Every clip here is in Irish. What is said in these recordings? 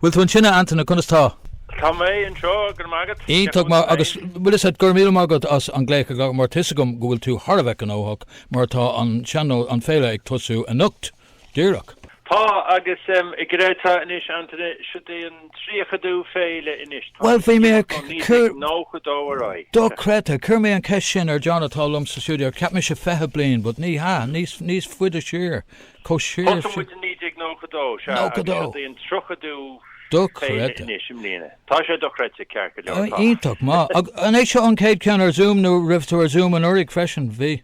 Bhfuil tú ansin, a Antaine? Conas tá? Tá mé anseo, go raibh maith agat. Iontach maith, agus bhfuil 'fhios a'd, go raibh míle maith agat as an glaoch a ghabháil, mar tá 'fhios agam go bhfuil tú thar a bheith gnóthach, mar tá an sean-nós, an fhéile ag tosú anocht, díreach. Tá, agus go deimhin tá anois, Antaine, siod é an tríochadú féile anois, tá Bhuel, bhí mé ag ó cur, 1992 ar aghaidh. dochreidte, chuir mé an cheist sin ar John atá liom sa stiúideo, cheap mise fiche bliain, but ní hea, níos, níos faide siar, Thosaigh muid i 1992, sea, agus seo í an 30ú féile anois i mbliana. Tá sé dochreidte, ceart go leor, tá. Iontach maith. Agus an é seo an chéad cheann ar Zoom nó raibh tú ar Zoom anuraidh freisin? Bhí.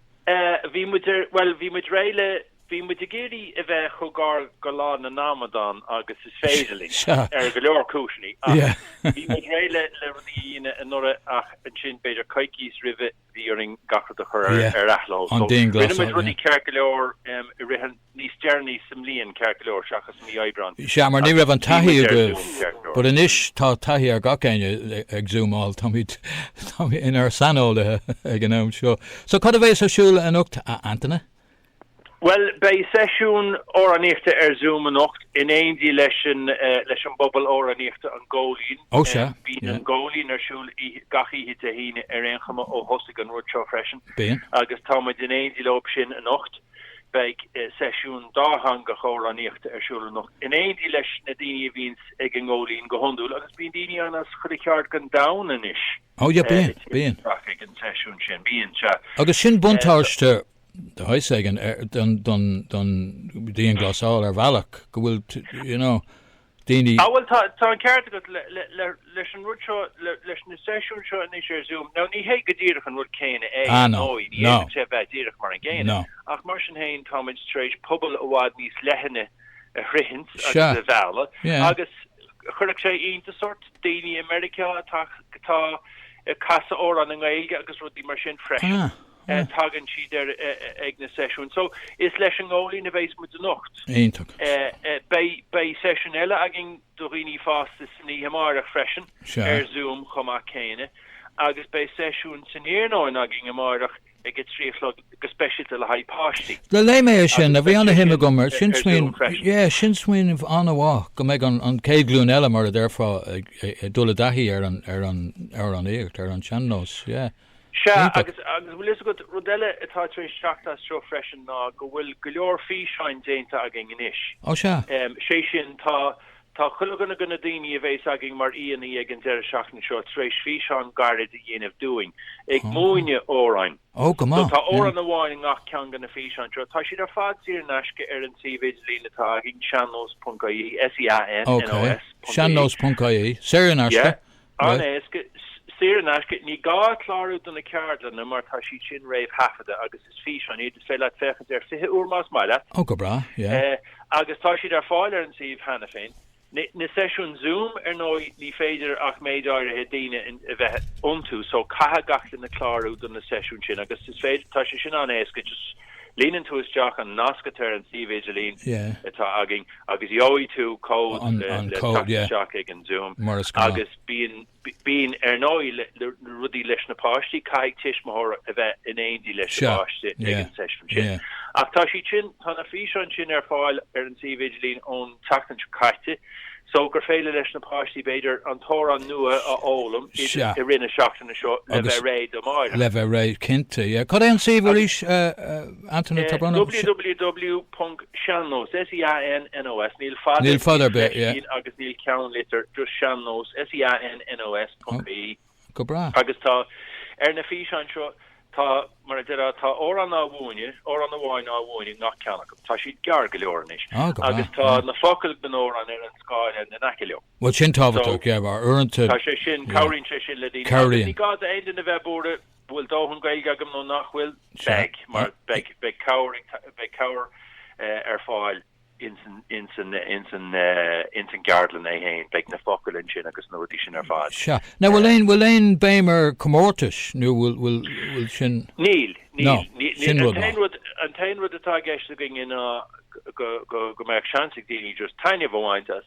Bhí muid ar, bhuel, bhí muid réidh le, bhí muid ag iarraidh a bheith chomh gar do Lá na nAmadán agus is féidir linn, ar go leor cúiseanna, ach bhí muid réidh le rudaí a dhéanamh anuraidh ach ansin b'fhéidir coicís roimhe bhí orainn gach rud a chur ar athló. So, rinne muid rudaí ceart go leor i rith an, níos deireanaí sa mbliain, ceart go leor, seachas mí Aibreán. Sea, mar ní raibh an taithí agaibh. But anois tá taithí ag gach éinne ag zúmáil, táimid inár saineolaithe ag an am seo. So, cad a bheas ar siúl anocht, a Antaine? Bhuel, beidh seisiún amhránaíochta ar Zoom anocht in éindí leis an bpobal amhránaíochta An Góilín. Bíonn An Góilín ar siúl gach oíche Dé hAoine ar aon chuma ó thosaigh an rud seo freisin agus tá muid in éindí leo sin anocht. Beidh seisiún dátheangach amhránaíochta ar siúl anocht in éindí leis na daoine a bhíonns ag an nGóilín go hiondúil agus bíonn daoine ann as chuile cheard den domhan anois ag an seisiún sin. Bíonn, sea. Agus sin buntáiste de shaghas éigin don dianghlasáil ar bhealach go bhfuil daoine. Ah bhuel, tá an ceart agat leis an rud seo, leis na seisiúin seo anois ar Zoom. Now ní hé go díreach an rud céanna é ar ndóigh, ní fhéadfadh sé bheith díreach mar an gcéanna, ach mar sin féin táimid tar éis pobal i bhfad níos leithne a shroichint agus a mhealladh agus chuirfeadh sé iontas ort daoine i Meiriceá atá ag casadh amhrán i nGaeilge agus rudaí mar sin freisin. Ah. tagann siad air ag na seisiúin. So, is leis an nGóilín a bheas muid anocht. Iontach. Beidh seisiún eile againn do dhaoine fásta san oíche amáireach freisin, ar Zoom chomh maith céanna, agus beidh seisiún san iarnóin againn amáireach ag a trí a chlog go speisialta le haghaidh páistí. Léigh mé é sin, a bhí an-shuim agam ann. Sin smaoineamh, yeah, sin smaoineamh an-mhaith, go mbeidh an chéad ghlúin eile, mar a déarfá, ag dul i dtaithí ar an, ar an, ar an amhránaíocht, ar an sean-nós, yeah. Sea, agus an bhfuil fhios agat, rud eile atá tar éis teacht as seo freisin ná go bhfuil go leor físeáin déanta againn anois. Ó sea. Sé sin, tá chuile dhuine de na daoine a bhéas againn mar aíonna ag an deireadh seachtaine seo tar éis físeán gairid a dhéanamh dúinn, ag múineadh amhráin. Ó, go maith. Tá amhrán amháin i ngach ceann de na físeáin seo. Tá siad ar fad saor in aisce ar an suíomh idirlín atá againn, sean-nós.ie, S-E-A-N-N-O-S. Ok, sean-nós.ie, saor in aisce. An-éasca, saor in aisce, ní gá clárú do na ceardlanna mar tá siad sin réamhthaifeadta agus is físeáin iad, is féidir leat féachaint air 20 uair más maith leat. Oh, go breá, yeah. Agus tá siad ar fáil ar an suíomh cheana féin. Na seisiúin Zoom, ar ndóigh, ní féidir ach méid áirithe daoine a bheith iontu so caithfidh gach duine clárú do na seisiúin sin agus is féidir, tá sé sin an-éasca, just, Líonann tú isteach an nasc atá ar an suíomh idirlín atá againn agus gheobhaidh tú cód le teacht isteach ag an Zoom. Agus bíonn, ar ndóigh, le rudaí leis na páistí, caithfidh tuismitheoir a bheith in éindí leis an bpáiste ag an seisiún sin. Ach tá siad sin, tá na físeáin sin ar fáil ar an suíomh idirlín ón tseachtain seo caite. So gur féidir leis na páistí b'fhéidir an t-amhrán nua a fhoghlaim i rith na seachtaine seo le bheith réidh do Mháire. Le bheith réidh cinnte, yeah. Cad é an suíomh arís, Antaine, tá brón orm? www.seannós, S-E-A-N-N-O-S, níl fada, níl fada ar bith, yeah, agus níl ceannlitir, just seannós, S-E-A-N-N-O-S, ponc, I-E. Go breá. Agus tá, ar na físeáin seo, tá, mar a déarfá, tá amhrán á mhúineadh, amhrán amháin á mhúineadh i ngach ceann acu. Tá siad gearr go leor anois. Ah, go breá, Agus tá yeah. na focail den amhrán ar an scáileán in aice liom. Bhuel, sin tábhachtach, yeah, mar uaireanta, Tá sé sin, yeah. cabhraíonn sé sin le daoine. Agus Cabhraíonn. ní gá d'aon duine bheith buartha, bhfuil dóthain Gaeilge agam nó nach bhfuil? Sure. Beidh, mar beidh, beidh cabhair ag ta, beidh cabhair eh, ar fáil. ins an gceardlann é féin. Beidh na focail ansin agus na rudaí sin ar fad. Sea. Now bhfuil aon, bhfuil aon béim ar comórtais nó bhfuil, bhfuil, bhfuil sin? Níl, níl, níl, níl. An t-aon rud, an t-aon rud atá i gceist againne ná go, go, go mbeadh seans ag daoine just taitneamh a bhaint as.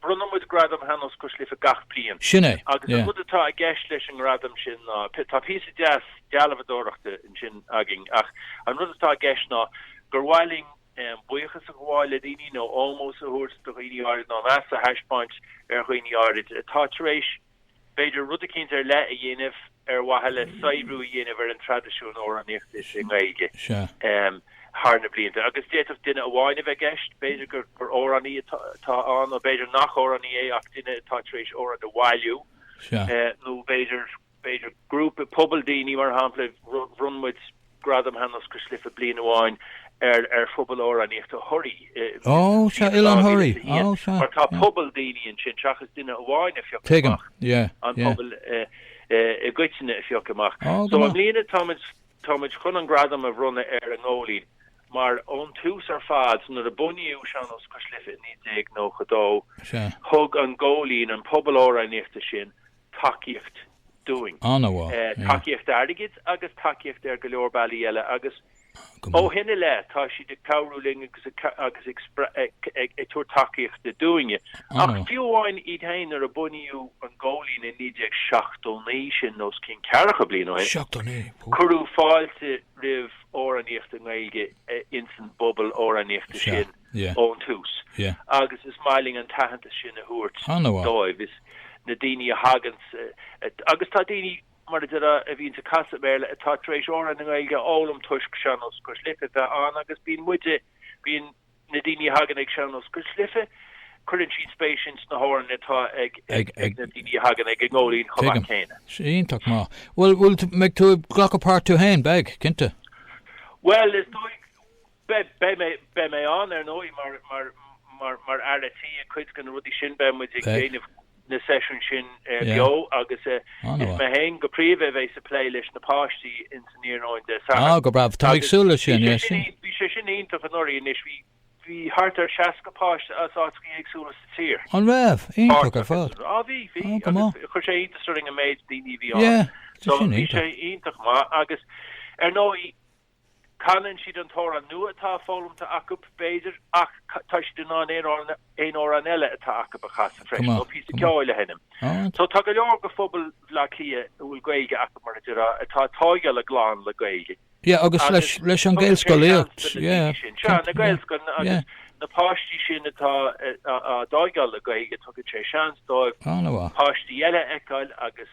Bronnann muid Gradam Shean-Nós Cois Life gach bliain. Sin é, Agus an yeah. rud atá i gceist leis an ngradam sin ná, tá píosa deas dealbhadóireachta ansin againn, ach an rud atá i gceist ná gur mhaith linn buíochas a ghabháil le daoine nó ómós a thabhairt do dhaoine áirid nó meas a thaispeáint ar dhaoine áirid atá tar éis a b'fhéidir rud eicínt ar leith a dhéanamh ar mhaithe le saibhriú a dhéanamh ar an traidisiún amhránaíochta i nGaeilge thar na blianta. Agus d'fhéadfadh duine amháin a bheith i gceist, b'fhéidir gur amhránaí atá ann, nó b'fhéidir nach amhránaí é ach duine atá tar éis amhrán a bhailiú, nó b'fhéidir grúpa, pobal daoine, mar shampla, bhronn muid, Gradam Shean-Nós Cois Life bliain amháin ar ar Phobal Amhránaíochta Thoraí i mbliain a 2001 mar tá pobal daoine ansin seachas duine amháin a phioc amach, an pobal i gcoitinne a phioc amach. So i mbliana táimid chun an gradam a bhronnadh ar an nGóilín mar ón tús ar fad, nuair a bunaíodh Sean-Nós Cois Life i 1992, thug an Góilín, an pobal amhránaíochta sin, tacaíocht dúinn. Tacaíocht airgid agus tacaíocht ar go leor bealaí eile agus ó shin i leith tá siad ag cabhrú linn agus ag tabhairt tacaíochta dúinne. Ach fiú amháin iad féin, nuair a bunaíodh an Góilín i 1979, sin os cionn ceathracha bliain ó shin, cuireadh fáilte roimh amhránaíocht i nGaeilge insan bpobal amhránaíochta sin. ón tús agus is maith linn an t-aitheantas sin a thabhairt dóibh. Is na daoine a thagann sa, agus tá daoine, mar a déarfá, a bhíonn sa casadh Béarla, atá tar éis amhráin na Gaeilge a fhoghlaim toisc Sean-Nós Cois Life a bheith ann agus bíonn muide, bíonn na daoine a thagann ag Sean-Nós Cois Life, cuireann siad spéis ins na hamhráin atá ag, ag, ag na daoine a thagann ag an nGóilín chomh maith céanna. Iontach maith. Bhuel, bhuel, an mbeidh tú ag glacadh páirt tú féin, beidh, cinnte. Bhuel, is dóigh, Beidh mé ann, ar ndóigh, mar fhear tí i gcuid de na rudaí sin. Beidh muid ag déanamh na seisiún sin beo agus is mé féin go príomha a bheidh sa plé leis na páistí insan iarnóin Dé Sathairn. Ah, go breá. Tá mé ag súil leis sin, yeah, sin. Bhí sé sin iontach anuraidh anois, bhí thart ar 60 páiste as áiteacha éagsúla sa tír. An raibh? Iontach ar fad. Á bhí, bhí. Á, go maith. Chuir sé iontas orainn an méid daoine a bhí ann. Yeah, tá sin iontach. So bhí sé iontach maith agus ar ndóigh, Canann siad an t-amhrán nua atá foghlamta acu, b'fhéidir, ach tá siad in ann aon amhrán eile atá acu a chasadh freisin, nó píosa ceoil a sheinm. So tá go leor de phobal Bhaile Átha Cliath a bhfuil Gaeilge acu, mar a déarfá, atá ag tógáil a gclann le Gaeilge. Yeah, agus leis an Gaelscolaíocht. Yeah. Seo, na Gaelscoileanna agus na páistí sin atá á dtógáil le Gaeilge, tugann sé seans dóibh páistí eile a fheiceáil agus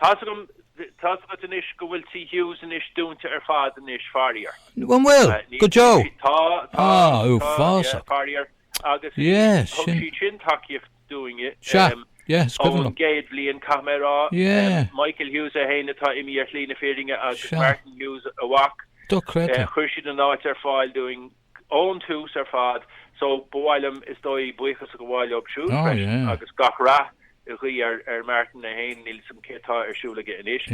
Tá's agam, tá's agat anois go bhfuil Tí Hughes anois dúnta ar fad anois, fairíor. An bhfuil? Go deo? Tá, tá, tá, yeah, fairíor. Agus thug siad sin tacaíocht dúinne ón gcéad bhliain, caithfidh mé a rá. Michael Hughes é fhéin atá imithe ar shlí na fírinne agus Martin Hughes a mhac. Chuir siad an áit ar fáil dúinn. ón tús ar fad so ba mhaith liom is dóigh buíochas a ghabháil leo siúd freisin agus gach rath a ghuí ar ar Martin é féin, níl 's a'm céard atá ar siúl aige anois,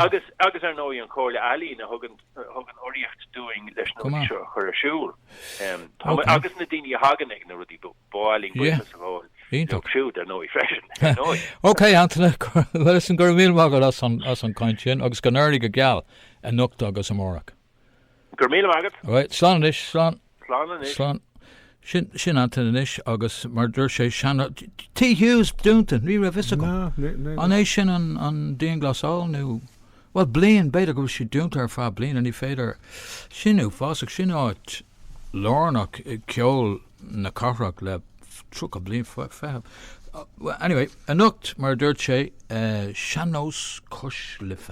agus agus ar ndóigh an Chomhairle Ealaíon a thugann thugann urraíocht dúinn leis na rudaí seo a chur ar siúl. Táimid agus na daoine a thagann ag na rudaí ba mhaith linn buíochas a ghabháil leo siúd ar ndóigh freisin. Ok Antaine, listen go raibh míle maith agat as an as an gcaint sin agus go n-éirí go geal anocht agus amárach. Go raibh míle maith agat. Right, slán anois, slán. Slán anois. Slán. Sin, sin Antaine anois agus mar a dúirt sé, sean-, Tigh Hughes dúnta, ní raibh fhios agam. Ná, ní, ní. An é sin an, an dianghlasáil nó, bhuel, bliain, b'fhéidir go bhfuil sé dúnta ar feadh bliana, ní féidir. Sin é, fásach, sin áit lárnach ceoil. na cathrach le tríocha bliain, fiche. Anyway, anocht, mar a dúirt sé, Sean-Nós Cois Life.